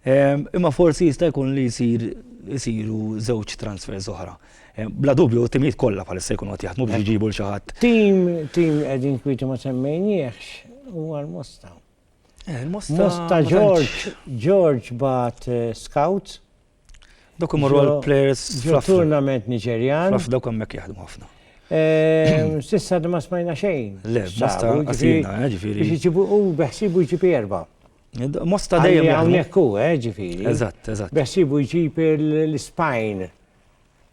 ehm, imma forsi jista' jkun li jsir isiru żewġ transfers oħra. Eh, bla dubju, timijiet kollha bħalissa jkunu qed jaħdmu biex eh. iġibu l xi ħadd. Tim, tim qegħdin kwiti ma semmejniex huwa l-Mosta. Eh, Mosta George, George bat scouts. Dok imorru għal players fl-tournament Niġerjan. Fl dok hemmhekk jaħdmu ħafna. Sissa ma smajna xejn. Le, Mosta għasina, ġifieri. Biex iġibu u beħsibu jġibu erba'. Mosta dejjem. Hawnhekk hu, ġifieri. Eżatt, eżatt. Beħsibu jġib l-Ispajn.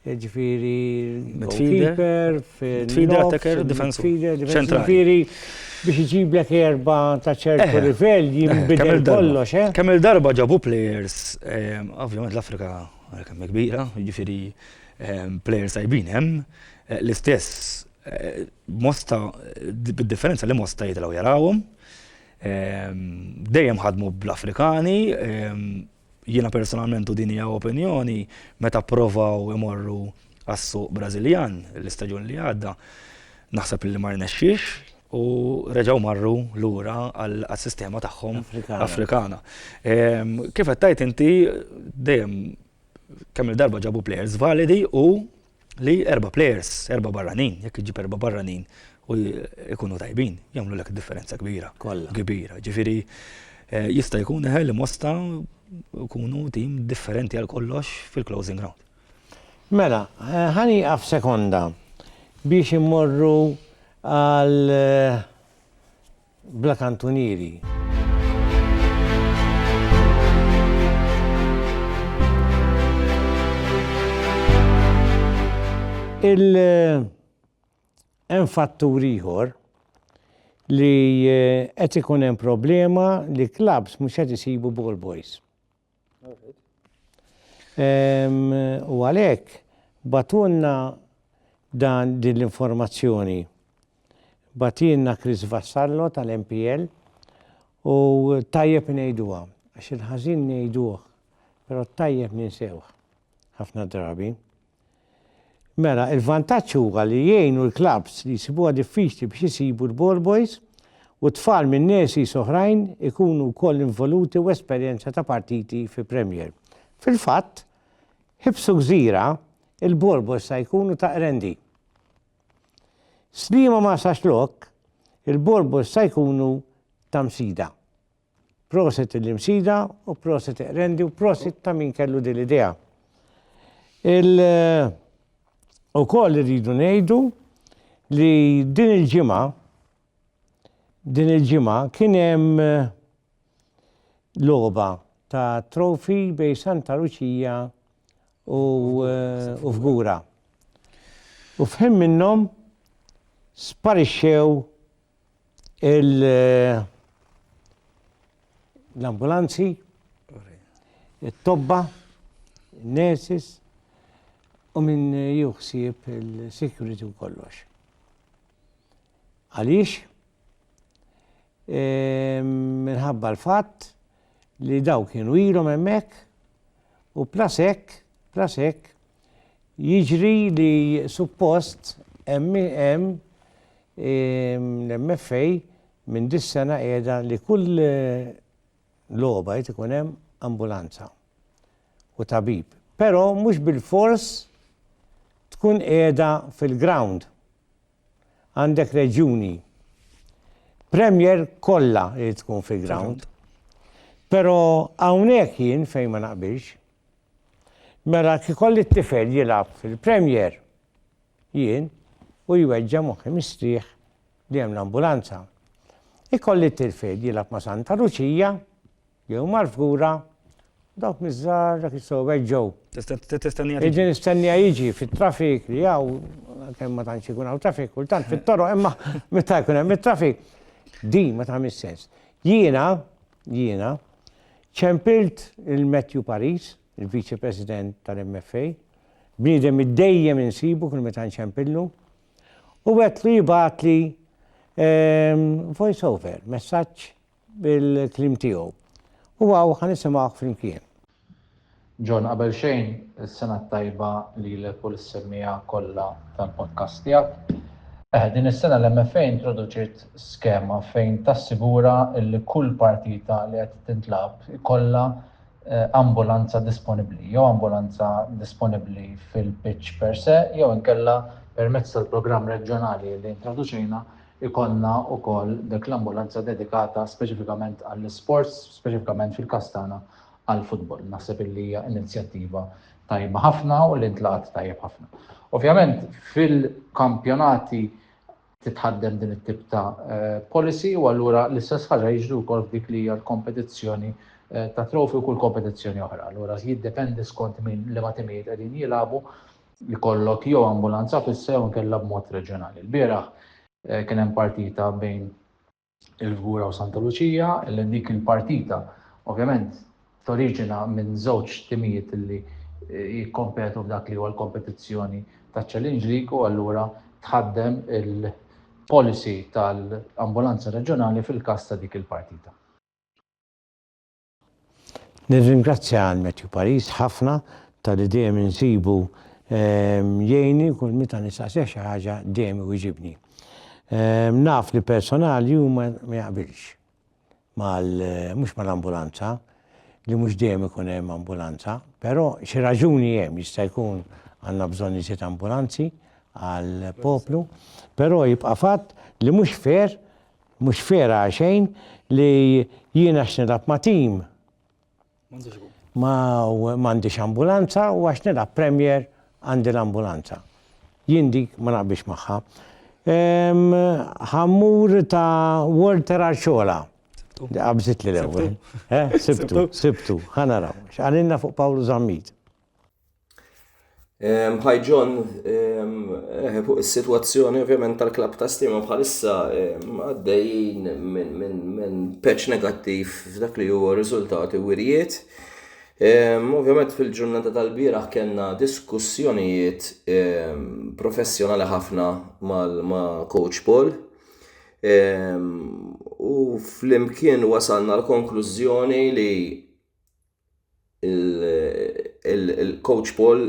ġifiri midfielder, midfielder attacker, defensur. Ġifiri biex iġiblek erba ta' ċertu livell jimbidel kollox, eh? Kemm il-darba ġabu players, ovvjament l-Afrika kemm kbira, ġifiri players tajbin hemm, l-istess mosta bid-differenza li mosta jitlaw jarawhom. Dejjem ħadmu bl-Afrikani, jiena personalment u din hija opinjoni, meta pprovaw imorru għas-suq Brażiljan l-istaġun li għadda, naħseb li ma rnexxiex u reġgħu marru lura għas-sistema tagħhom Afrikana. Kif qed tgħid inti dejjem kemm-il darba ġabu plejers validi u li erba' plejers, erba' barranin, jekk iġġib erba' barranin u jkunu tajbin, jagħmlu lek differenza kbira. Kollha. Kbira. Ġifieri eh, jista' jkun eħel li mosta jkunu tim differenti għal kollox fil-closing round. Mela, eh, ħani għaf sekonda biex immorru għal eh, bla kantunieri. Hemm fattur ieħor li eh, qed ikun hemm problema li clubs mhux qed isibu ball boys. U għalhekk bagħtulna dan din l-informazzjoni. Bagħtilna Chris Vassallo tal-MPL u tajjeb ngħiduha għax il-ħażin ngħiduh, però t-tajjeb ninsewh ħafna drabi. Mela, il-vantaġġ huwa li jgħinu l-klabbs li jsibuha diffiċli biex isibu l-ball boys u tfal minn nurseries oħrajn ikunu wkoll involuti u esperjenza ta' partiti fi Premier. Fil-fatt, Ħibsu Gżira, il-ball boys sa jkunu ta' Qrendi. Sliema Marsaxlokk, il-ball boys sa jkunu ta' Msida. Prosit lill-Imsida u prosit Iqrendi u prosit ta' min kellu din l-idea. Il ukoll irridu ngħidu li din il-ġimgħa din il-ġimgħa kien hemm logħba ta' trofi bej Santa Luċija u u Fgura. U f'ħin minnhom sparixxew l-ambulanzi, it-tobba, il-nurses, u minn juħsib il-security u kollox. Għaliex? Ehm, minħabba l-fatt li daw kienu ilhom hemmhekk u plasek, plasek, jiġri li suppost hemm hemm L-MFA minn dis-sena qiegħda li kull logħba jrid ikun hemm ambulanza u tabib. Però mhux bilfors tkun qiegħda fil-ground. Għandek reġjuni Premier kollha irid tkun fil-ground. Però hawnhekk jien fejn ma naqbilx. Mela kif ikolli t-tifel jilgħab fil-Premier, Jien, u jweġġa' moħħi mistrieħ li hemm l-ambulanza. Ikolli t-tir Fed jilgħab ma' Santa Luċija, jew mal-Fgura, u dawk miż-żgħar dak jistgħu jweġġgħu. Qegħdin nistennija jiġi fit-traffic li hawn, għalkemm ma tantx ikun hawn traffic kultant fit-toroq imma meta jkun hemm it-traffic, din ma tagħmilx sens. Jiena, jiena, ċempilt il-Matthew Paris il-Viċi President tal-MFA, bniedem li dejjem insibu kull meta nċempillu, u għedtlu jibgħatli ehm, voice over, messaġġ bil-klim tiegħu. U għaw ħanisimgħu flimkien. John, qabel xejn, is-sena tajba li l u l-semmija kollha tal-podcast tiegħek. Eh, din is-sena l-MFA introduċiet skema fejn tassigura li kull partita li qed tintlab ikollha ambulanza disponibbli jew ambulanza disponibbli fil-pitch per se jew inkella permezz tal-programm reġjonali li introduċejna jkollna wkoll dik l-ambulanza dedikata speċifikament għall-isports, speċifikament fil-każ tagħna għall-futbol. Naħseb illi hija inizjattiva tajba ħafna u li ntlaqgħet tajjeb ħafna. Ovvjament fil-kampjonati titħaddem din it-tip ta' policy u allura l-istess ħaġa jiġri wkoll f'dik li hija l-kompetizzjoni ta' trofi u kull kompetizzjoni oħra. Allura jiddependi skont min li ma timijiet qegħdin jilagħbu li kollok jew ambulanza fissa jew inkella b'mod reġjonali. Il-bieraħ kien hemm partita bejn il-Fgura u Santa Luċija, li dik il-partita ovvjament toriġina minn żewġ timijiet li jikkompetu f'dak li huwa l-kompetizzjoni taċ-Challenge League u allura tħaddem il-policy tal-ambulanza reġjonali fil-każ ta' dik il-partita. Nirringrazzja għal Matthew Paris ħafna talli dejjem insibu jgħinni kull meta nistaqsih xi ħaġa dejjem iwiġibni. Naf li personali hu ma jaqbilx mal mhux mal-ambulanza li mhux dejjem ikun hemm ambulanza, però xi raġuni hemm jista' jkun għandna bżonn iżjed ambulanzi għall-poplu, però jibqa' fatt li mhux fair Mhux fair għaxejn li jien għax nilgħab ma' tim m'għandix ambulanza u għax nilgħab Premier għandi l-ambulanza. Jien dik ma naqbilx magħha. Ħa mmur ta' Walter Arciola. Qabżitli l-ewwel. Sibtu, sibtu, ħa naraw. X'qalilna fuq Pawlu Zammit? Hi John, eh, fuq is-sitwazzjoni ovvjament tal-klab ta' stima bħalissa għaddejjin minn peċ negattiv f'dak li huwa riżultati wirjiet. Ovvjament fil-ġurnata tal-bieraħ kellna diskussjonijiet professjonali ħafna ma' Coach Paul u flimkien wasalna l-konklużjoni li il-Coach Paul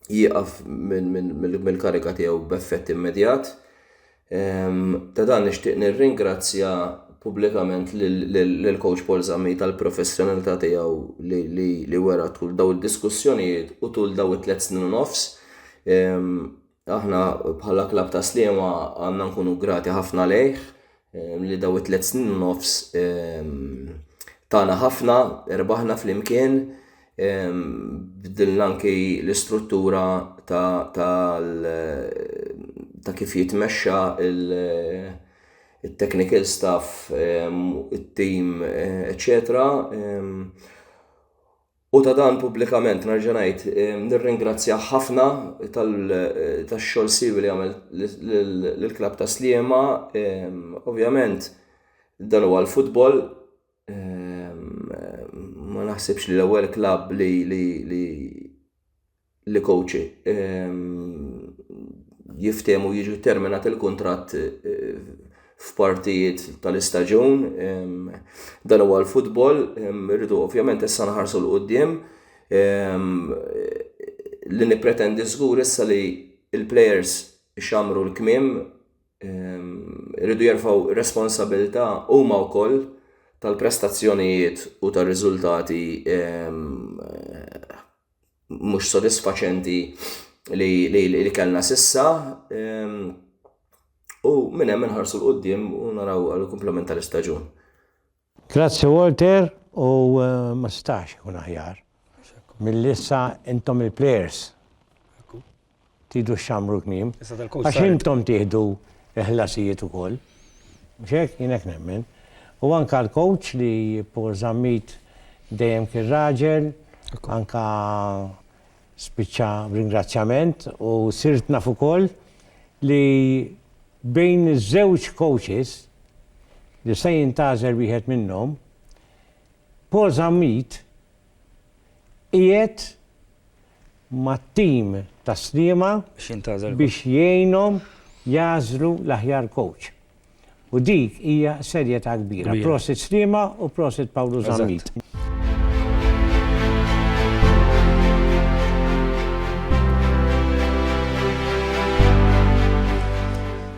jieqaf mill-kariga tiegħu b'effett immedjat. Ta' dan nixtieq nirringrazzja pubblikament lil Coach Paul Zammi tal-professjonalità tiegħu li wera tul daw id-diskussjonijiet u tul daw it-tliet snin u nofs. Aħna bħala klabb ta' Sliema għandna nkunu grati ħafna lejh li daw it-tliet snin u nofs tagħna ħafna, erbaħna flimkien, bdilna anki l-istruttura ta' kif jitmexxa il-technical staff, it-tim, eċċetera. U ta' dan pubblikament nerġa' ngħid nirringrazzjah ħafna tax-xogħol siewi li għamel lill-klabb ta' Sliema. Ovvjament dan huwa l-futbol, ma naħsibx li l-ewwel klabb li li kowċi jiftehmu jiġu terminat il-kuntratt f'partijiet tal-istaġun. Dan huwa l-futbol, rridu ovvjament issa nħarsu l-qoddim li nippretendi żgur issa li l-plejers ixammru l-kmiem, rridu jerfgħu responsabilità huma wkoll tal-prestazzjonijiet u tar-riżultati mhux sodisfaċenti li, li, li, li kellna sissa. Um, u minn hemm inħarsu l qudiem u naraw għal komplement tal-istaġun. Grazzi Walter u eh, ma stax ikun aħjar. Mill-issa intom il-players. Tidu xxammru l-kmiem. Għax intom tieħdu l-ħlasijiet ukoll. Mhux hekk? Jien hekk nemmen. U anka l-coach li Paul Zammit dejjem kien raġel, anka spiċċa b'ringrazzjament u sirt naf ukoll li bejn iż-żewġ coaches li se jintgħażel wieħed minnhom, Paul Zammit qiegħed mat-tim ta' Sliema biex jgħinhom jagħżlu l-aħjar coach. U dik hija serjetà kbira. Prosit Sliema u prosit Pawlu Zammit.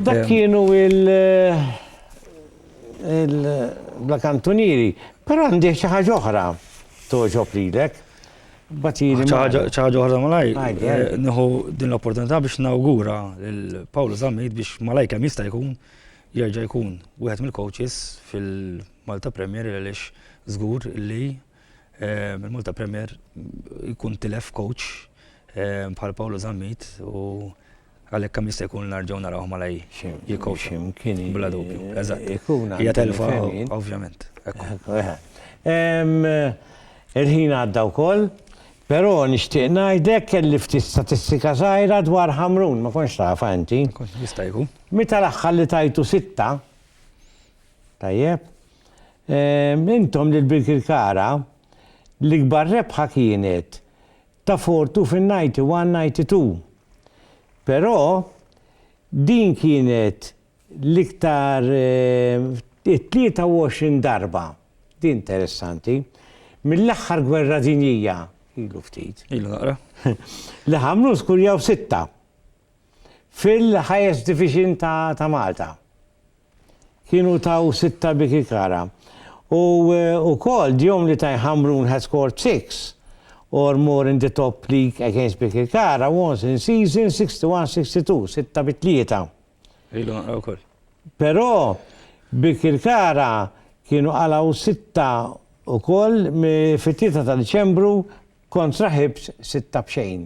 Dak kienu il- Il-bla kantunieri, però għandi xi ħaġa oħra togħġob lilek. Batili. Xi ħaġa oħra malaj. Eh, nieħu din l-opportunità biex nawgura lil Paul Zammit biex malaj kemm jista' jkun jerġa' jkun wieħed mill-coaches fil-Malta Premier għaliex żgur li eh, il-Malta Premier jkun tilef coach eh, bħal Paolo Zammit u Għalhekk kemm jista' jkun narġgħu narawh malaj jikkowċa. Bla dubju. Eżatt. Hija telfa, ovvjament. Il-ħin għadda wkoll, però nixtieq ngħidlek kelli ftit statistika żgħira dwar Ħamrun, ma kontx tafha inti. Jista' jkun. Meta l-aħħar li tajtu sitta, tajjeb, intom lil Birkirkara l-ikbar rebħa kienet ta' Fortu fin-91, 92. Però din kienet l-iktar it-23 darba, din interessanti, mill-aħħar gwerra dinjija, ilu ftit, li Ħamrun skurjaw sitta. fil-Highest Division ta' Malta. Kienu taw sitta Bikikara. U wkoll djom li Tadhg Ħamrun had scored six or more in the top league against Bikikara once in season 61-62, sitta bi tlieta. Ilu nqra wkoll. Però Bikirkara kienu qalgħu sitta wkoll fit-tlieta ta' Diċembru kontra Hibs sitta b'xejn.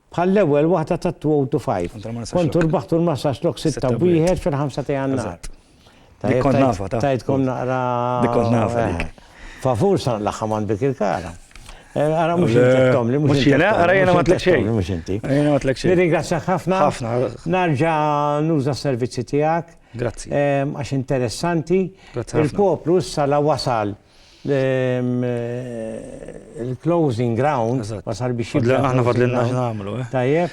Bħall-ewwel waħda tat-2025. Kont u rbaħt u rmassax lok sitta u wieħed fil-ħamsa ta' Jannar. Dik kont nafha ta'. Tajtkom naqra. Dik kont nafha dik. Favur sa nlaħħam għand Bikir Kara. Ara mhux intettom li mhux. Mhux jiena, ara jiena ma tlek xejn. Mhux inti. Jiena ma tlek xejn. Nirringrazzjak ħafna. Ħafna. Narġa' nuża s-servizzi tiegħek. Grazzi. Għax interessanti. Grazzi. Il-poplu issa la wasal. Il-closing ground ma sar biex jibda. Fadlilna, aħna fadlilna x'nagħmlu, eh. Tajjeb,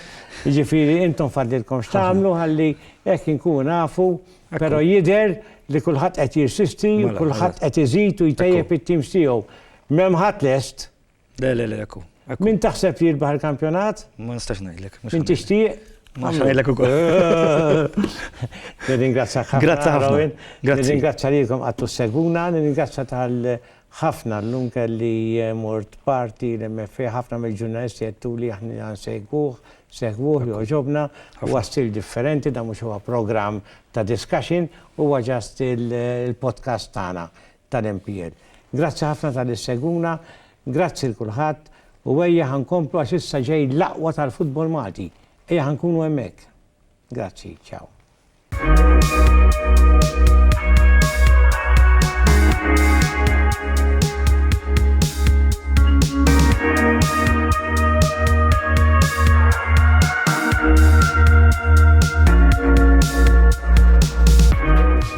jiġifieri intom fadlilkom x'tagħmlu ħalli hekk inkunu nafu, però jidher li kulħadd qed jirsisti u kulħadd qed iżid u jtejjeb it-teams tiegħu. M'hemm ħadd lest Le, le, le, ekku. Min taħseb li jirbaħ il-kampjonat? Ma nistax ngħidlek. Min tixtieq? Ma ngħidlek ukoll. Nirringrazzjak ħafna. Grazzi ħafna. Nirringrazzja lilkom għattu seguna, nirringrazzja tal ħafna l-lum kelli eh, mort parti l-MFA ħafna mill-ġurnalisti għettu li aħna segwuħ, segwuħ, joġobna, u għastil differenti, da mux huwa program ta' discussion, u għagġast il-podcast tana. tal-MPN. Grazzi ħafna talli ssegwuna, grazzi 'l kulħadd u ejja ħa nkomplu għax issa ġej l-aqwa tal-futbol Malti. Ejja ħa nkunu hemmhekk. Grazzi, ciao.